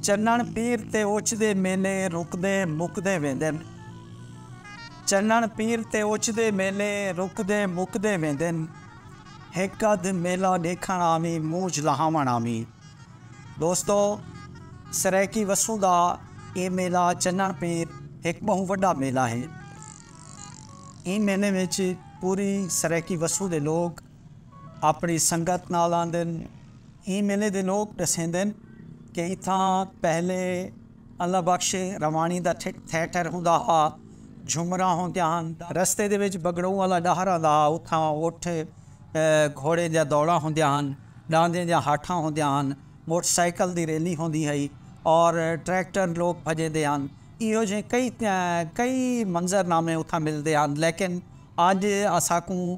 چنݨ پیر تے اچ دے میلے رکدے مکدے ویندن چنݨ پیر تے اچ دے میلے رکدے مکدے ویندن ہک ادھ میلہ ݙیکھݨ آویں موج لہاوݨ آویں دوستو سرائیکی وسوں دا اے میلہ چنݨ پیر ہک ٻہوں وݙا میلہ ہے ایں میلے وچ پوری سرائیکی وسوں دے لوک اپݨی سنگت نال آندن۔ ایں میلے دے لوک ݙسیندن کہ اتھاں پہلے اللہ بخش رواݨی دا تھیٹر ہوندا ہا، جھمراں ہوندیاں ہن، رستے دے وچ بگڑوں والا ݙاہر آندا ہا، اتھاں اٹھ گھوڑیں دیاں دوڑاں ہوندیاں ہن، ݙاندیں دیاں ہاٹھاں ہوندیاں ہن، موٹر سائیکل دی ریلی ہوندی ہئی اور ٹریکٹر لوک بھڄیندے ہن۔ ایہو جھیں کئی کئی منظر نامے اتھاں ملدے ہن لیکن اڄ اساکوں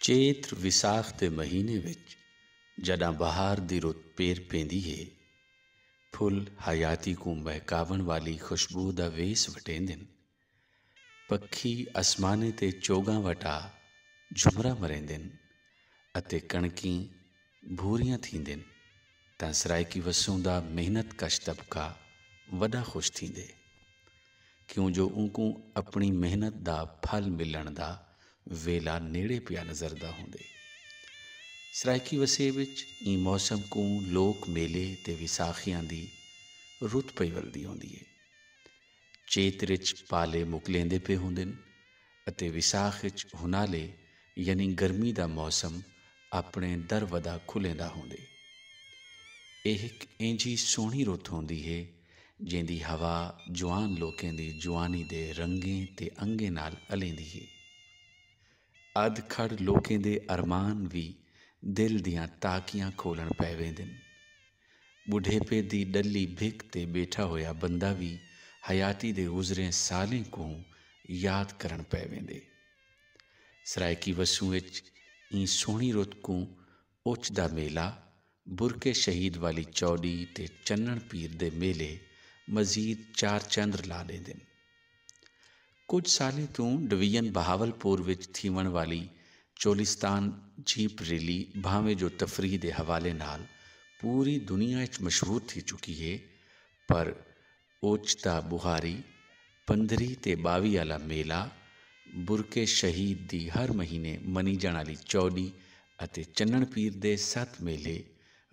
چیت ویساخ دے مہینے وچ جݙاں بہار دی رت پیر پیندی ہے، پھل حیاتی کوں مہکاوݨ والی خوشبو دا ویس وٹیندن۔ پکھی اسمانیں تے چوڳاں وٹا جھمرا مریندن اتے کݨکیں بھوریاں تھیندن تاں سرائیکی وسوں دا محنت کش طبقہ وݙا خوش تھیندے کیوں جو اونکوں اپݨی محنت دا پھل ملݨ دا ویلا نیڑے پیا نظردا ہوندے۔ سرائیکی وسے وچ ایں موسم کوں لوک میلے تے ویساخیاں دی رت پئی ولدی ہوندی اے۔ چیت اچ پالے مکلیندے پئے ہوندن اتے وساخ اچ ہنالے یعنی گرمی دا موسم اپݨے در ودا کھلیندا ہوندے۔ ایہ ہک اینجھی سوہݨی رت ہوندی ہے جیندی ہوا جوان لوکیں دی جوانی دے رنگیں تے انگیں نال الیندی ہے۔ ادھ کھڑ لوکیں دے ارمان وی دل دیاں تاکیاں کھولݨ پئے ویندن۔ ٻڈھیپے دی ݙلی بھک تے ٻیٹھا ہویا بندہ وی حیاتی دے گزریں سالیں کوں یاد کرݨ پئے ویندے۔ سرائیکی وسوں اچ ایں سوہݨی رت کوں اچ دا میلہ، برکے شہید والی چوݙی تے چنݨ پیر دے میلے مزید چار چندر لا ݙیندن۔ کجھ سالیں توں ڈویژن بہاولپور وچ تھیوݨ والی چولستان جیپ ریلی بھانویں جو تفریح دے حوالے نال پوری دنیا اچ مشہور تھی چکی ہے پر اوچتہ بہاری، پندرھیں تے ٻاوی آلا میلہ، برکے شہید دی ہر مہینے منیجݨ آلی چوݙی اتے چنݨ پیر دے ست میلھے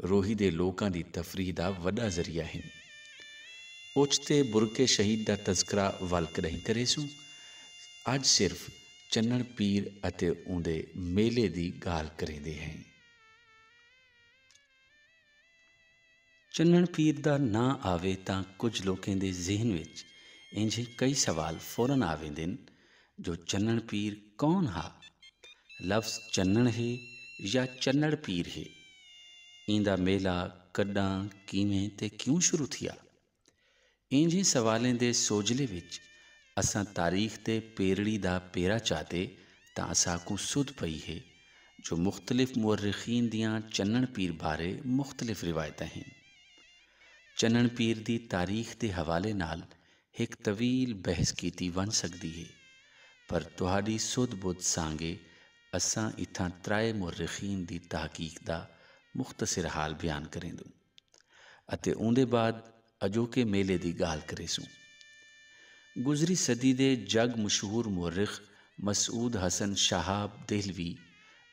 روہی دے لوکاں دی تفریح دا وݙا ذریعہ ہن۔ اوچتے برکے شہید دا تذکرہ ول کݙاہیں کریسوں، اڄ صرف چنݨ پیر اتے اوندے میلے دی ڳالھ کریندے ہیں۔ چنݨ پیر دا ناں آوے تاں کجھ لوکیں دے ذہن وچ اینجھے کئی سوال فورا آ ویندن جو چنݨ پیر کون ہا؟ لفظ چنݨ ہے یا چنڑ پیر ہے؟ ایندا میلہ کݙاں، کیویں تے کیوں شروع تھیا؟ اینجھیں سوالیں دے سوجھلے وچ اساں تاریخ دے پیرڑی دا پیرا چاتے تاں اساکوں سدھ پئی ہے جو مختلف مورخین دیاں چنݨ پیر بارے مختلف روایتاں ہن۔ چنݨ پیر دی تاریخ دے حوالے نال ہک طویل بحث کیتی ونج سگدی ہے پر تہاڈی سدھ بدھ سانگے اساں اتھاں ترائے مورخین دی تحقیق دا مختصر حال بیان کریندوں اتے اوندے بعد اجوکے میلے دی گالھ کریسوں۔ گزری صدی دے جگ مشہور مورخ مسعود حسن شہاب دہلوی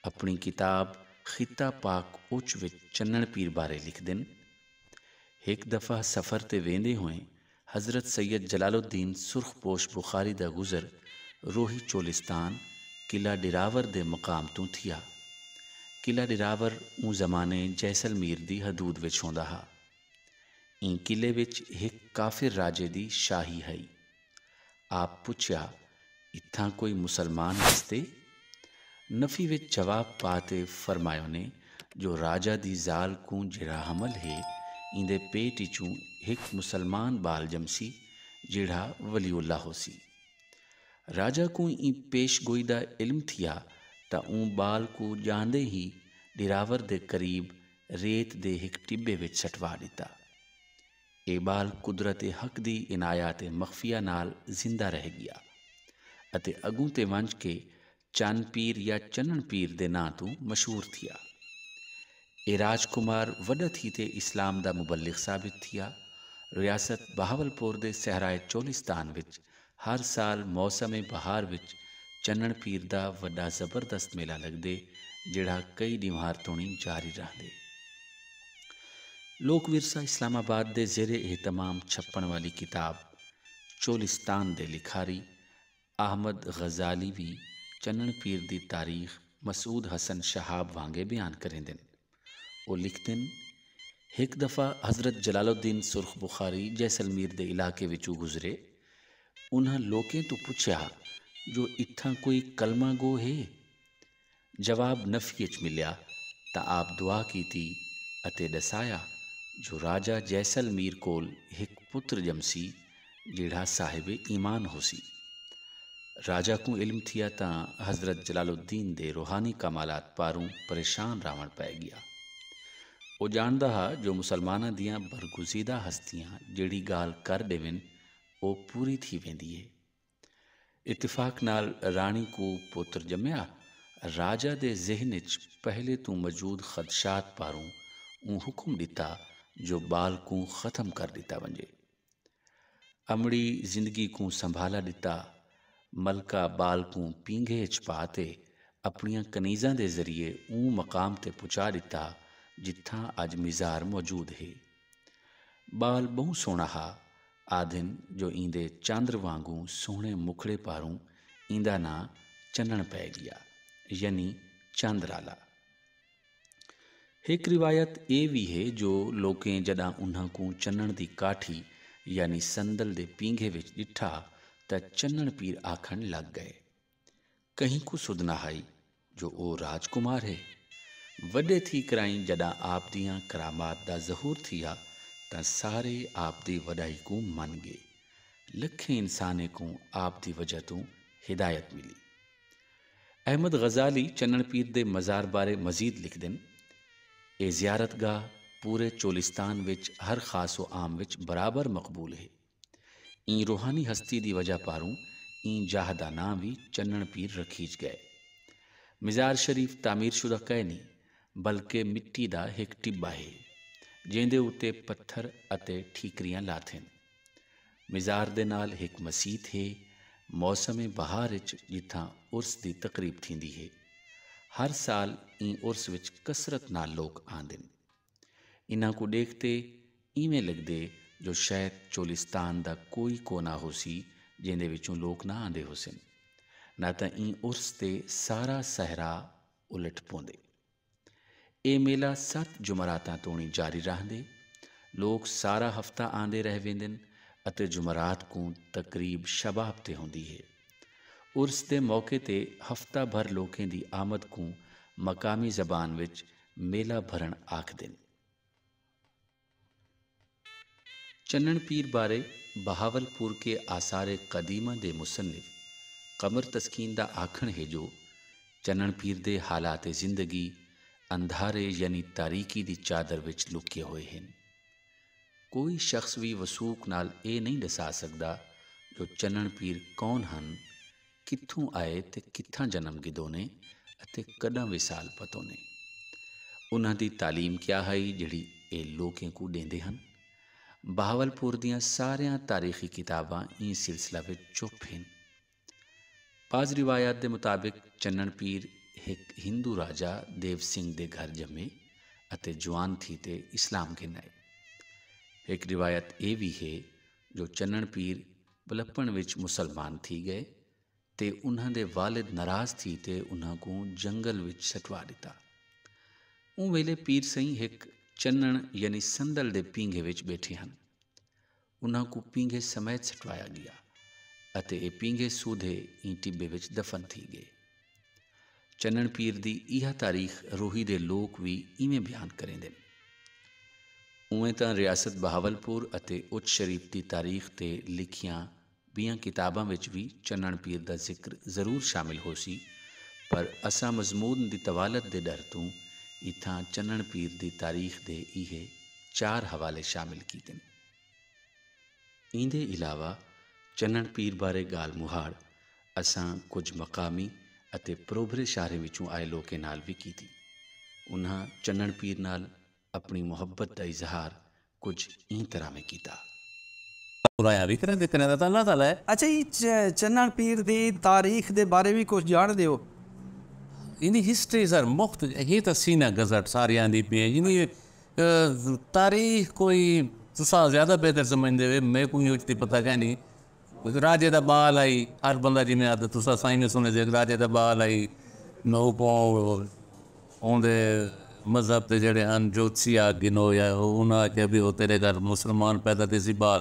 اپنڑی کتاب خطہ پاک اچ وچ چنڑ پیر بارے لکھدن، ہک دفعہ سفر تے ویندے ہوئیں حضرت سید جلال الدین سرخ پوش بخاری دا گزر روہی چولستان، قلعہ ڈراور دے مقام توں تھیا۔ قلعہ ڈراور اوں زمانے جیسلمیر دی حدود وچ ہوندا ہا۔ ایں قلعے وچ ہک کافر راجے دی شاہی ہئی۔ آپ پچھیا، اتھاں کوئی مسلمان وسدے؟ نفی وچ جواب پا تے فرمایونے جو راجہ دی ذال کوں جیڑھا حمل ہے ایندے پیٹ اچوں ہک مسلمان ٻال ڄمسی جیڑھا ولی اللہ ہوسی۔ راجہ کوں ایں پیش گوئی دا علم تھیا تاں اوں ٻال کوں ڄاندے ہی ݙراور دے قریب ریت دے ہک ٹٻے وچ سٹوا ݙتا۔ اے ٻال قدرت حق دی عنایات مخفیہ نال زندہ رہ ڳیا اتے اڳوں تے ونڄ کے چن پیر یا چنݨ پیر دے ناں توں مشہور تھیا۔ اے راج کمار وݙا تھی تے اسلام دا مبلغ ثابت تھیا۔ ریاست بہاولپور دے صحرائے چولستان وچ ہر سال موسم بہار وچ چنݨ پیر دا وݙا زبردست میلہ لڳدے جیڑھا کئی ݙینہوار توݨی جاری رہندے۔ لوک ورثہ اسلام آباد دے زیر اہتمام چھپݨ والی کتاب چولستان دے لکھاری احمد غزالی وی چنݨ پیر دی تاریخ مسعود حسن شہاب وانگے بیان کریندن۔ او لکھدن، ہک دفعہ حضرت جلال الدین سرخ بخاری جیسلمیر دے علاقے وچوں گزرے۔ انہاں لوکیں توں پچھیا جو اتھاں کوئی کلمہ گو ہے؟ جواب نفی اچ ملیا تاں آپ دعا کیتی اتے ڈسایا جو راجہ جیسلمیر کول ہک پتر جمسی جیڑھا صاحب ایمان ہوسی۔ راجہ کوں علم تھیا تاں حضرت جلال الدین دے روحانی کمالات پاروں پریشان راہوݨ پئے ڳیا۔ او ڄاݨدا ہا جو مسلماناں دیاں برگزیدہ ہستیاں جیڑھی ڳالھ کر ݙیون او پوری تھی ویندی ہے۔ اتفاق نال راݨی کوں پتر ڄمیا۔ راجہ دے ذہن اچ پہلے توں موجود خدشات پاروں اوں حکم ݙتا جو ٻال کوں ختم کر ݙتا ونڄے۔ امڑی زندگی کوں سنبھالا ڈتا، ملکہ بال کوں پینگھے اچ پا تے اپنڑیاں کنیزاں دے ذریعے اوں مقام تے پچا ڈتا جتھاں اج مزار موجود ہے۔ بال بہوں سوہنڑا ہا، آدھن جو ایندے چاندر وانگوں سوہنڑے مکھڑے پاروں ایندا ناں چننڑ پئے گیا، یعنی چاندرالا۔ ہک روایت اے وی ہے جو لوکیں جݙاں انھاں کوں چنݨ دی کاٹھی یعنی صندل دے پینگھے وچ ݙٹھا تاں چنݨ پیر آکھݨ لڳ ڳئے۔ کہیں کوں سدھ نہ ہئی جو او راج کمار ہے۔ وݙے تھی کرائیں جݙاں آپ دیاں کرامات دا ظہور تھیا تاں سارے آپ دی وݙائی کوں من ڳے۔ لکھیں انسانیں کوں آپ دی وجہ توں ہدایت ملی۔ احمد غزالی چنݨ پیر دے مزار بارے مزید لکھدن، اے زیارت گاہ پورے چولستان وچ ہر خاص و عام وچ برابر مقبول ہے۔ ایں روحانی ہستی دی وجہ پاروں ایں جاہ دا ناں وی چنݨ پیر رکھیج ڳئے۔ مزار شریف تعمیر شدہ کائنی بلکہ مٹی دا ہک ٹٻہ ہے جیندے اتے پتھر اتے ٹھیکریاں لاتھن۔ مزار دے نال ہک مسیت ہے۔ موسم بہار اچ جتھاں عرس دی تقریب تھیندی ہے۔ ہر سال ایں عرس وچ کثرت نال لوک آندن۔ انہاں کوں ڈیکھ تے اینویں لگدے جو شاید چولستان دا کوئی کونا ہوسی جیندے وچوں لوک نہ آندے ہوسن۔ نہ تاں ایں عرس تے سارا صحرا الٹ پوندے۔ اے میلہ ست جمعراتاں توڑیں جاری رہندے۔ لوک سارا ہفتہ آندے رہ ویندن اتے جمعرات کوں تقریب شباب تے ہوندی ہے۔ عرس دے موقع تے ہفتہ بھر لوکیں دی آمد کوں مقامی زبان وچ میلہ بھرݨ آکھدن۔ چنݨ پیر بارے بہاول پور کے آثار قدیمہ دے مصنف قمر تسکین دا آکھݨ ہے جو چنݨ پیر دے حالات زندگی اندھارے یعنی تاریکی دی چادر وچ لکیے ہوئے ہن۔ کوئی شخص وی وثوق نال ایہ نئیں ݙسا سڳدا جو چنݨ پیر کون ہن کتھوں آئے تے کتھاں جنم گھدونے اتے کݙاں وصال پتونے؟ انہاں دی تعلیم کیا ہئی جیڑھی اے لوکیں کوں ݙیندے ہن؟ بہاولپور دیاں ساریاں تاریخی کتاباں ایں سلسلہ وچ چپ ہن۔ بعض روایات دے مطابق چنݨ پیر ہک ہندو راجہ دیو سنگھ دے گھر ڄمے اتے جوان تھی تے اسلام گھن آئے۔ ہک روایت اے وی ہے جو چنݨ پیر ٻلھپݨ وچ مسلمان تھی ڳئے تے انہاں دے والد ناراض تھی تے انہاں کوں جنگل وچ سٹوا ݙتا۔ اوں ویلے پیر سئیں ہک چنݨ یعنی صندل دے پینگھے وچ ٻیٹھے ہن۔ انہاں کوں پینگھے سمیت سٹوایا ڳیا اتے اے پینگھے سودھے ایں ٹٻے وچ دفن تھی ڳئے۔ چنݨ پیر دی ایہا تاریخ روہی دے لوک وی ایویں بیان کریندن۔ اونویں تاں ریاست بہاولپور اتے اچ شریف دی تاریخ تے لکھیاں بیاں کتاباں وچ وی چنݨ پیر دا ذکر ضرور شامل ہوسی پر اساں مضمون دی طوالت دے ݙر توں اتھاں چنݨ پیر دی تاریخ دے ایہے چار حوالے شامل کیتن۔ ایندے علاوہ چنݨ پیر بارے ڳالھ مہاڑ اساں کجھ مقامی اتے پروبھرے شاہریں وچوں آئے لوکیں نال وی کیتی۔ انہاں چنݨ پیر نال اپݨی محبت دا اظہار کجھ ایں طرح میں کیتا۔ خدایاں وی کریں دے کریں دا تاں اللہ تعالی ہے۔ اچھا جی چنݨ پیر دی تاریخ دے بارے وی کجھ ڄاݨ دیو۔ ایندی ہسٹری سر مخت ہی تاں سینہ گزٹ ساریاں دی پی ہے۔ تاریخ کوئی تساں زیادہ بہتر سمجھدے وے میکوں یوج دی پتہ کینی راجے دا بال آئی ہر بندہ جی میں آتا تساں سائیں میں سنے دیکھ راجے دا بال آئی نو کو اون دے مذہب دے جڑے ہن جوتسی آ گنو یا انہاں آکھیا بھی او تیرے گھر مسلمان پیدا تیسی بال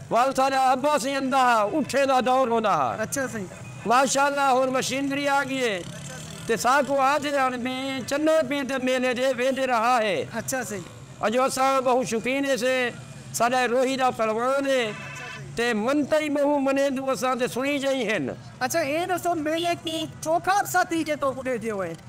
وال سارا ابا سی اندا ہا اٹھے دا دور ہوندا ہا ماشاءاللہ ہن مشینری آ گی ہے تے ساکوں آدھے ہن بی چنا پیر دے میلے دے ویندے رہا ہے اجو اساں بہوں شوقین ہیسے ساڈا اے روہی دا پہلوان ہے تے منتا ای بہوں منیندوں اساں تے سنی جئیں ہن۔ اچھا اے ڈسو میلے کوں چوکھا عرصہ تھی گئے تہکوں ڈیندے ہوئے۔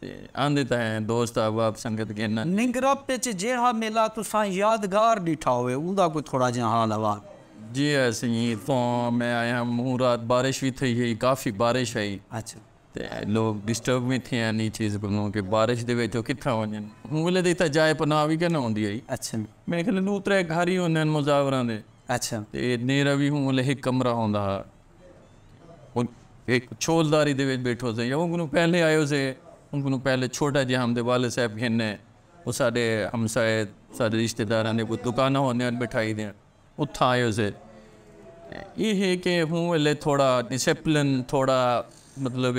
تے آندے تاں ہیں دوست احباب سنگت گھن۔ ننگرپ اچ جیڑھا میلہ تساں یادگار ݙٹھا ہووے اوندا کوئی تھوڑا جیہاں حال احوال۔ جی ہے سئیں اتھوں میں آئے ہاں موں رات بارش وی تھئی ہئی کافی بارش ہئی تے لوک ڈسٹرب وی تھئے ہن ایں چیز کنوں کہ بارش دے وچ او کتھاں ونجن اوں ویلے تاں اتھاں جائے پناہ وی کینہ ہوندی ہئی میݙے خیال ݙو ترے گھر ہی ہوندے ہن مزاوراں دے تے نیرہ وی اوں ویلے ہک کمرہ ہوندا ہا ہک چھول داری دے وچ بیٹھو سے یا اوں کنوں پہلے آیو سے اوں کنوں پہلے چھوٹا جیہاں ہم دے والد صاحب گھن نے او ساڈے ہمسائے ساڈے رشتہ داراں دے کوئی دکانہ ہوندے ہیں مٹھائی دے اتھاں آیو سے ایہہ ہے کہ ہوں ولے تھوڑا ڈسپلن تھوڑا مطلب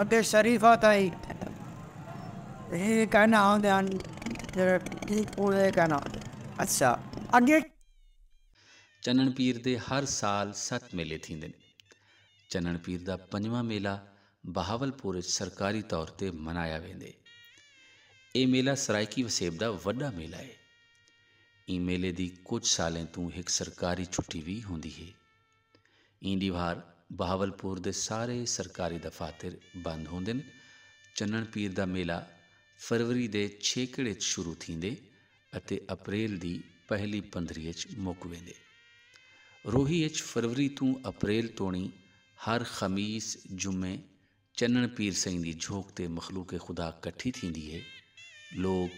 اتے شریفہ تئیں ایہ کہنا ہوندے ہن کہ توں ایہ کہنا ہوندے اچھا اگے۔ چنݨ پیر دے ہر سال ست میلے تھیندن۔ چنݨ پیر دا پنجواں میلہ بہاولپور اچ سرکاری طور تے منایا ویندے۔ ایہ میلہ سرائیکی وسیب دا وݙا میلہ اے۔ ایں میلے دی کجھ سالیں توں ہک سرکاری چھٹی وی ہوندی اے۔ ایں ڈیوار بہاولپور دے سارے سرکاری دفاتر بند ہوندن۔ چنݨ پیر دا میلہ فروری دے چھیکڑ اچ شروع تھیندے اتے اپریل دی پہلی پندھری اچ مک ویندے۔ روہی اچ فروری توں اپریل توڑیں ہر خمیس، جمعے چنݨ پیر سئیں دی جھوک تے مخلوق خدا کٹھی تھیندی ہے۔ لوک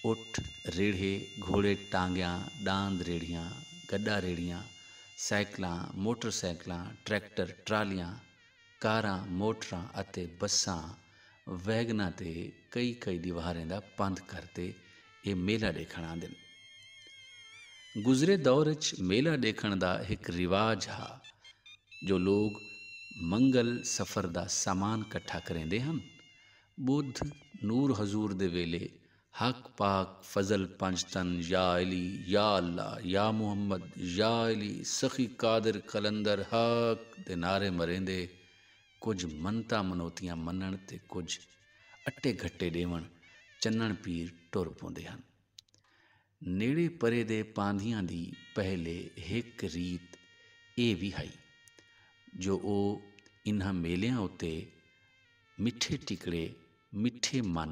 اٹھ، ریڑھے، گھوڑے، ٹانگیاں، ݙاند، ریڑھیاں، گݙا ریڑھیاں، سائیکلاں، موٹر سائیکلاں، ٹریکٹر، ٹرالیاں، کاراں، موٹراں اتے بساں، ویگناں تے کئی کئی ݙیوہاریں دا پندھ کر تے اے میلہ ڈیکھنڑ آندن۔ گزرے دور اچ میلہ ڈیکھنڑ دا ہک رواج ہا جو لوگ منگل سفر دا سامان کٹھا کریندے ہن۔ بدھ نور حضور دے ویلے حق پاک فضل پنجتن یا علی یا اللہ یا محمد یا علی سخی قادر قلندر حق دے نعرے مریندے کجھ منتاں منوتیاں منݨ تے کجھ اٹے گھٹے ݙیوݨ چنݨ پیر ٹر پوندے ہن۔ نیڑے پرے دے پاندھیاں دی پہلے ہک ریت اے وی ہئی جو او انہاں میلیاں اتے مٹھے ٹکڑے مٹھے من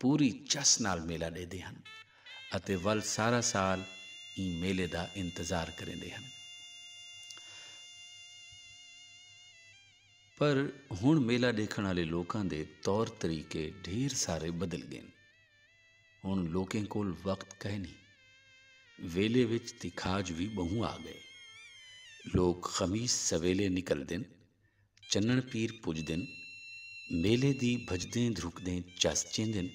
پوری چس نال میلہ ݙیہدے ہن اتے ول سارا سال ایں میلے دا انتظار کریندے ہن۔ پر ہݨ میلہ ݙیکھݨ آلے لوکاں دے طور طریقے ڈھیر سارے بدل ڳئن۔ ہݨ لوکیں کول وقت کائنی۔ ویلے وچ تکھاج وی ٻہوں آ ڳئے۔ لوک خمیس سویلے نکلدن۔ چنݨ پیر پجدن میلے دی بھجدیں دھرکدیں چس چیندن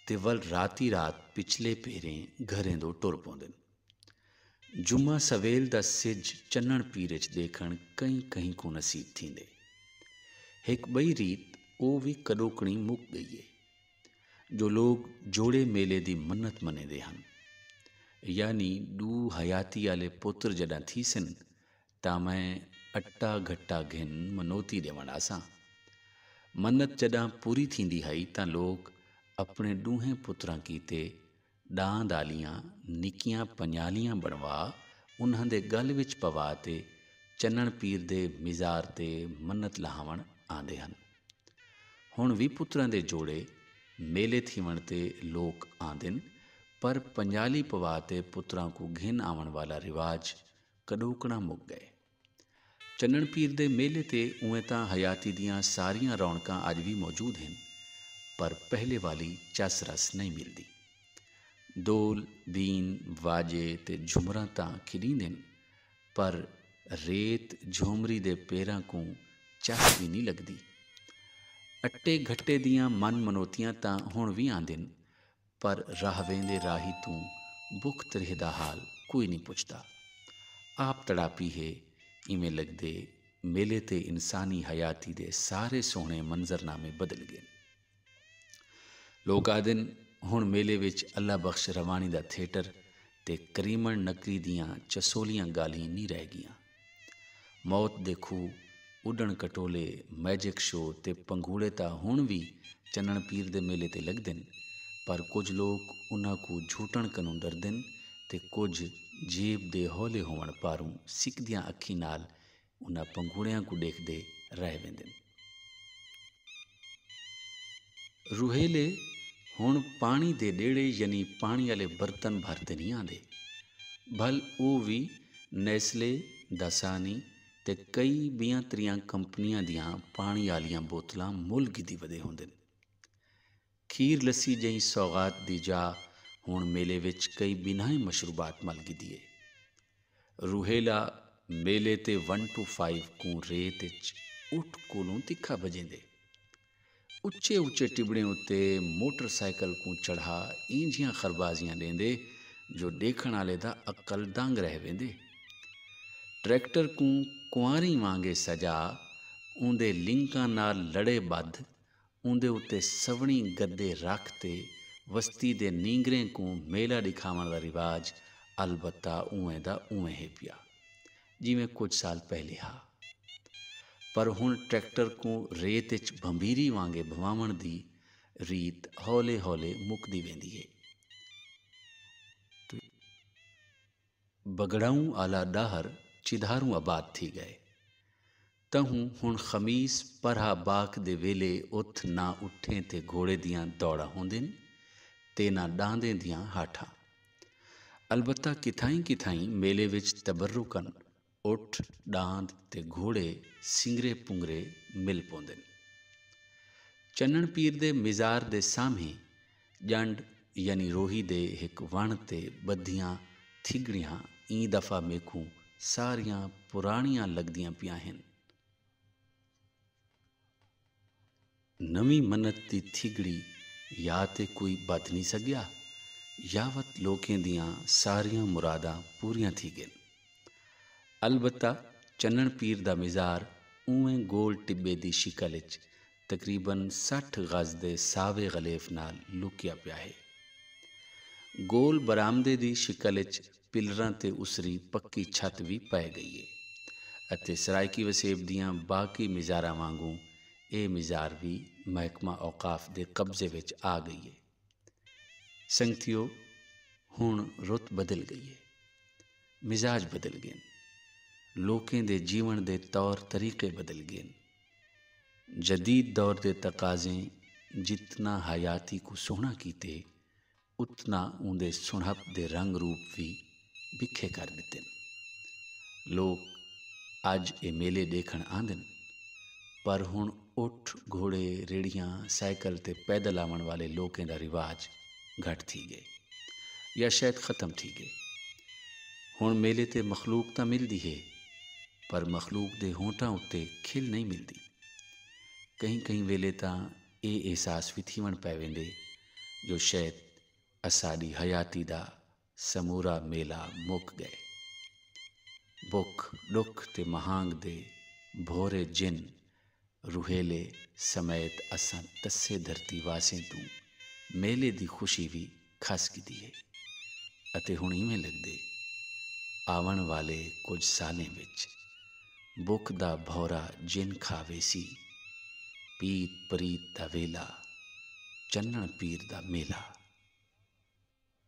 تے ول راتی رات پچھلے پہریں گھریں دو ٹر پوندن۔ جمعہ سویل دا سجھ چنݨ پیر اچ ݙیکھݨ کہیں کہیں کوں نصیب تھیندے۔ ہک ٻئی ریت او وی کݙوکݨی مک ڳئی اے جو لوک جوڑے میلے دی منت منیندے ہن۔ یعنی ݙو حیاتی آلے پتر جݙاں تھیسن تاں میں اٹا گھٹا گھن منوتی ݙیوݨ آساں۔ منت جݙاں پوری تھیندی ہئی تاں لوک اپݨے ݙوہیں پتراں کیتے ݙاند آلیاں نکیاں پنڄالیاں بݨوا انہاں دے ڳل وچ پوا تے چنݨ پیر دے مزار تے منت لہاوݨ آندے ہن۔ ہݨ وی پتراں دے جوڑے میلے تھیوݨ تے لوک آندن پر پنڄالی پوا تے پتراں کوں گھن آوݨ والا رواج کݙوکݨاں مک ڳئے۔ چنݨ پیر دے میلے تے اونویں تاں حیاتی دیاں ساریاں رونقاں اڄ وی موجود ہن پر پہلے والی چس رس نئیں ملدی۔ ڈول، بین، واڄے تے جھمراں تاں کھݙیندن پر ریت جھومری دے پیراں کوں چس وی نئیں لڳدی۔ اٹے گھٹے دیاں من منوتیاں تاں ہݨ وی آندن پر راہ ویندے راہی توں بکھ تریہہ دا حال کوئی نی پچھدا۔ آپ تڑاپی ہے، ایویں لگدے میلے تے انسانی حیاتی دے سارے سوہنے منظر نامے بدل گین۔ لوک آہدن ہن میلے وچ اللہ بخش روانی دا تھیٹر تے کریمݨ نکری دیاں چسولیاں ڳالھیں نی رہ ڳیاں۔ موت دے کھوہ، اݙݨ کٹولے، میجک شو تے پنگھوڑے تاں ہݨ وی چنݨ پیر دے میلے تے لڳدن پر کجھ لوک انہاں کوں جھوٹݨ کنوں ݙردن تے کجھ جیب دے ہولے ہووݨ پاروں سکدیاں اکھیں نال انہاں پنگوڑیاں کوں ڈیکھدے رہ ویندن۔ روہیلے ہن پانی دے نیڑے یعنی پانی آلے برتن بھر تے نہیں آندے بھل او وی نیسلے، داسانی تے کئی بیاں تریاں کمپنیاں دیاں پانی آلیاں بوتلاں مول گھدی ودے ہوندن۔ کھیر لسی جئیں سوغات دی جا ہنڑ میلے وچ کئی بنھائیں مشروبات مل گھدی اے۔ روہیلا میلے تے ون ٹو فائیو کوں ریت اچ اٹھ کولوں تکھا بھجیندے۔ اچے اچے ٹبڑیں اتے موٹر سائیکل کوں چڑھا اینجھیاں خربازیاں ڈیندے جو ڈیکھنڑ آلے دا عقل دنگ رہ ویندے۔ ٹریکٹر کوں کنواریں وانگے سجا اوندے لنکاں نال لڑے بدھ اوندے اتے سوہݨی گدے رکھ تے وستی دے نینگریں کوں میلہ ݙکھاوݨ دا رواج البتہ اونویں دا اونویں ہے پیا جیویں کجھ سال پہلے ہا پر ہݨ ٹریکٹر کوں ریت اچ بھنبھیری وانگے بھنواوݨ دی ریت ہولے ہولے مکدی ویندی ہے۔ بگڑاؤں آلا ڈاہر چدھاروں آباد تھی گئے۔ تہوں ہن خمیس پرہا باک دے ویلے اتھ نہ اٹھیں تے گھوڑے دیاں دوڑاں ہوندین تے نہ ڈاندیں دیاں ہاٹھاں۔ البتہ کتھائیں کتھائیں میلے وچ تبرکن اٹھ، ڈاند تے گھوڑے سنگرے پنگرے مل پوندن۔ چنݨ پیر دے مزار دے سامہیں ڄنڈ یعنی روہی دے ہک وݨ تے ٻدھیاں تھڳڑیاں ایں دفعہ میکوں ساریاں پراݨیاں لڳدیاں پیاں ہن۔ نویں منت دی تھیگڑی یا تے کوئی بدھ نی سگیا یا وت لوکیں دیاں ساریاں مراداں پوریاں تھی گن۔ البتہ چنݨ پیر دا مزار اونویں گول ٹٻے دی شکل اچ تقریبا سٹھ غز دے ساوے غلیف نال لکیا پیا ہے۔ گول برآمدے دی شکل اچ پلراں تے اسری پکی چھت وی پئے گئی ہے اتے سرائیکی وسیب دیاں باقی مزاراں وانگوں اے مزار وی محکمہ اوقاف دے قبضے وچ آ گئی اے۔ سنگتیو ہنڑ رت بدل گئی اے۔ مزاج بدل گین۔ لوکیں دے جیونڑ دے طور طریقے بدل گین۔ جدید دور دے تقاضیں جتنا حیاتی کوں سوہنڑا کیتے۔ اتنا اوندے سنہپ دے رنگ روپ وی بکھے کر ڈتن۔ لوک اج اے میلے ڈیکھن آندن پر ہن اٹھ، گھوڑے، ریڑھیاں، سائیکل تے پیدل آون والے لوکیں دا رواج گھٹ تھی گئے یا شاید ختم تھی گئے۔ ہن میلے تے مخلوق تاں ملدی ہے پر مخلوق دے ہونٹاں اتے کھل نئیں ملدی۔ کہیں کہیں ویلے تاں اے احساس وی تھیون پے ویندے جو شئید اساݙی حیاتی دا سمورا میلہ مک ڳئے۔ بکھ، ݙکھ تے مہانڳ دے بھورے جن روہیلے سمیت اساں ٹسے دھرتی واسیں توں میلے دی خوشی وی کھس ڳدی ہے اتے ہݨ ایویں لڳدے آوݨ والے کجھ سالیں وچ بکھ دا بھورا جن کھا ویسی۔ پیت پریت دا ویلا، چنݨ پیر دا میلہ۔